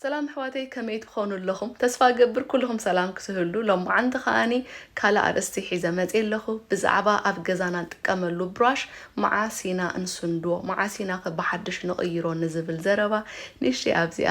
ሰላም ኣሕዋተይ ከመይ ትኾኑ ኣለኹም? ተስፋ ገብር ኩልኹም ሰላም ክስህሉ ሎማዓንቲ ከዓኒ ካልእ ኣርእስቲ ሒዘ መፅ ኣለኹ ብዛዕባ ኣብ ገዛና ንጥቀመሉ ብራሽ መዓስ ኢና እንስንድዎ መዓስ ኢና ከ ብሓድሽ ንቕይሮ ንዝብል ዘረባ ንእሽተይ ኣብዚኣ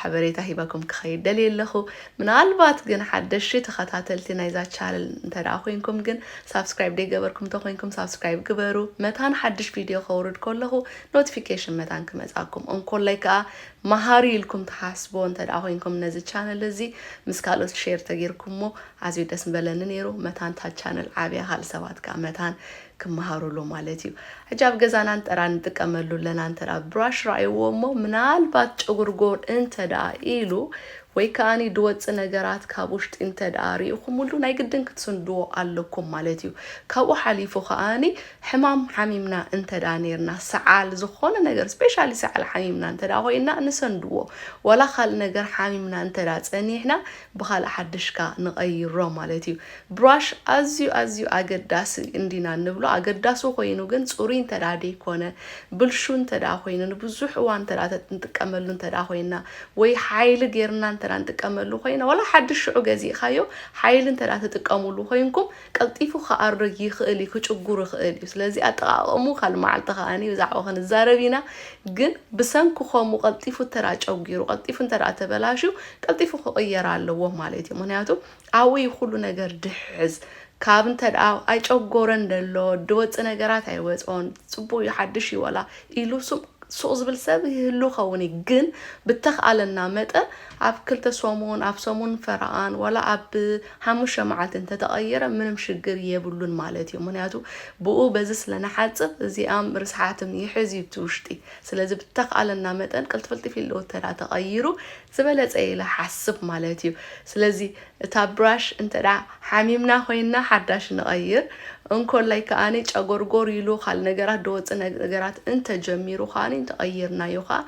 ሓበሬታ ሂበኩም ክኸይድ ደልየ ኣለኹ። ምናልባት ግን ሓደሽቲ ተኸታተልቲ ናይዛ ቻነል እንተ ደኣ ኮይንኩም ግን ሳብስክራይብ ደይገበርኩም እንተ ኮይንኩም ሳብስክራይብ ግበሩ። መታን ሓድሽ ቪድዮ ከውርድ ከለኹ ኖቲፊኬሽን መታን ክመጽኣኩም። እንኮላይ ከኣ መሃሪ ኢልኩም ትሓስብዎ እንተ ደኣ ኮይንኩም ነዚ ቻነል እዚ ምስ ካልኦት ሼር ተጌርኩሞ ኣዝዩ ደስ ምበለኒ ነይሩ። መታን እታ ቻነል ዓብያ ካልእ ሰባት ከኣ መታን ክመሃሩሉ ማለት እዩ ሕጂ ኣብ ገዛና እንተራ ንጥቀመሉ ኣለና እንተራ ብራሽ ረኣይዎ እሞ ምናልባት ጨጉርጎር እንተደኣ ኢሉ ወይ ከኣኒ ድወጽእ ነገራት ካብ ውሽጢ እንተደኣ ርኢኹምሉ ናይ ግድን ክትስንድዎ ኣለኩም ማለት እዩ ካብኡ ሓሊፉ ከኣኒ ሕማም ሓሚምና እንተደኣ ነርና ሰዓል ዝኾነ ነገር ስፔሻሊ ሰዓል ሓሚምና እንተደኣ ኮይና ንሰንድዎ ዋላ ካልእ ነገር ሓሚምና እንተደኣ ጸኒሕና ብኻልእ ሓድሽ ከኣ ንቐይሮ ማለት እዩ። ብራሽ ኣዝዩ ኣዝዩ ኣገዳሲ እንዲና እንብሎ ኣገዳሲ ኮይኑ ግን ጽሩይ እንተድኣ ደይኮነ ብልሹው እንተድኣ ኮይኑ ንብዙሕ እዋን እንተድኣ ንጥቀመሉ እንተድኣ ኮይና ወይ ሓይሊ ጌርና እንተድኣ ንጥቀመሉ ኮይና ዋላ ሓድሽ ሽዑ ገዚእኻዮ ሓይሊ እንተድኣ ትጥቀሙሉ ኮይንኩም ቀልጢፉ ክኣርግ ይኽእል እዩ ክጭጉር ይኽእል እዩ ስለዚ ኣጠቃቀሙ ካልእ መዓልቲ ከኣ ብዛዕባ ክንዛረብ ኢና ግን ብሰንኪ ከምኡ ቀልጢፉ ተራ ጨጒሩ ቀልጢፉ እንተ ተበላሽዩ ቀልጢፉ ክቅየር ኣለዎ ማለት እዩ ምክንያቱ ኣብኡ እዩ ኩሉ ነገር ድሕዝ ካብ እንተ ኣይጨጎረን ደሎ ድወፅ ነገራት ኣይወፆን ፅቡቅ እዩ ሓድሽ እዩ ወላ ኢሉ ሱቅ ሱቅ ዝብል ሰብ ይህሉ ከውን እዩ ግን ብተክኣለና መጠን ኣብ ክልተ ሰሙን ኣብ ሰሙን ፈረቃን ወላ ኣብ ሓሙሽተ መዓልቲ እንተ ተቐይረ ምንም ሽግር የብሉን ማለት እዩ። ምኽንያቱ ብኡ በዚ ስለ ንሓጽብ እዚኣም ርስሓትም ይሕዝ እዩ እቲ ውሽጢ። ስለዚ ብተኽኣለና መጠን ቅልጥፍልጥፍ ኢሉ እንተ ተቐይሩ ዝበለጸ እየ ኢለ እሓስብ ማለት እዩ። ስለዚ እታ ብራሽ እንተ ሓሚምና ኮይና ሓዳሽ ንቐይር። እንኮላይ ከኣ ጨጎርጎር ኢሉ ካልእ ነገራት ደወጽእ ነገራት እንተ ጀሚሩ ከኣ እንተ ቀይርናዮ ከኣ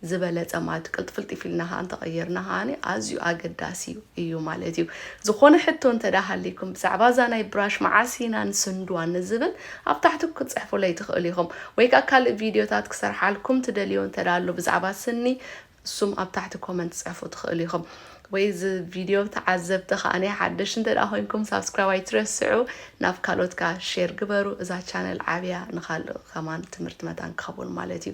ዝበለጸ ማለት እዩ። ቅልጥፍልጢፍ ኢልና ከኣ እንተቐይርና ከኣ ኣዝዩ ኣገዳሲ እዩ ማለት እዩ። ዝኾነ ሕቶ እንተ ሃልይኩም ብዛዕባ እዛ ናይ ብራሽ መዓስ ኢና ንስንድዋ ንዝብል ኣብ ታሕቲ ክትጽሕፉለይ ትኽእሉ ኢኹም። ወይ ከኣ ካልእ ቪድዮታት ክሰርሓልኩም ትደልዮ እንተ ኣሎ ብዛዕባ ስኒ እሱም ኣብ ታሕቲ ኮመንት ጽሕፉ ትኽእሉ ኢኹም። ወይ እዚ ቪድዮ ተዓዘብቲ ከኣ ሓደሽ እንተ ኮይንኩም ሳብስክራይብ ኣይትረስዑ፣ ናብ ካልኦት ከኣ ሼር ግበሩ። እዛ ቻነል ዓብያ ንካልእ ከማን ትምህርቲ መታን ክኸውን ማለት እዩ።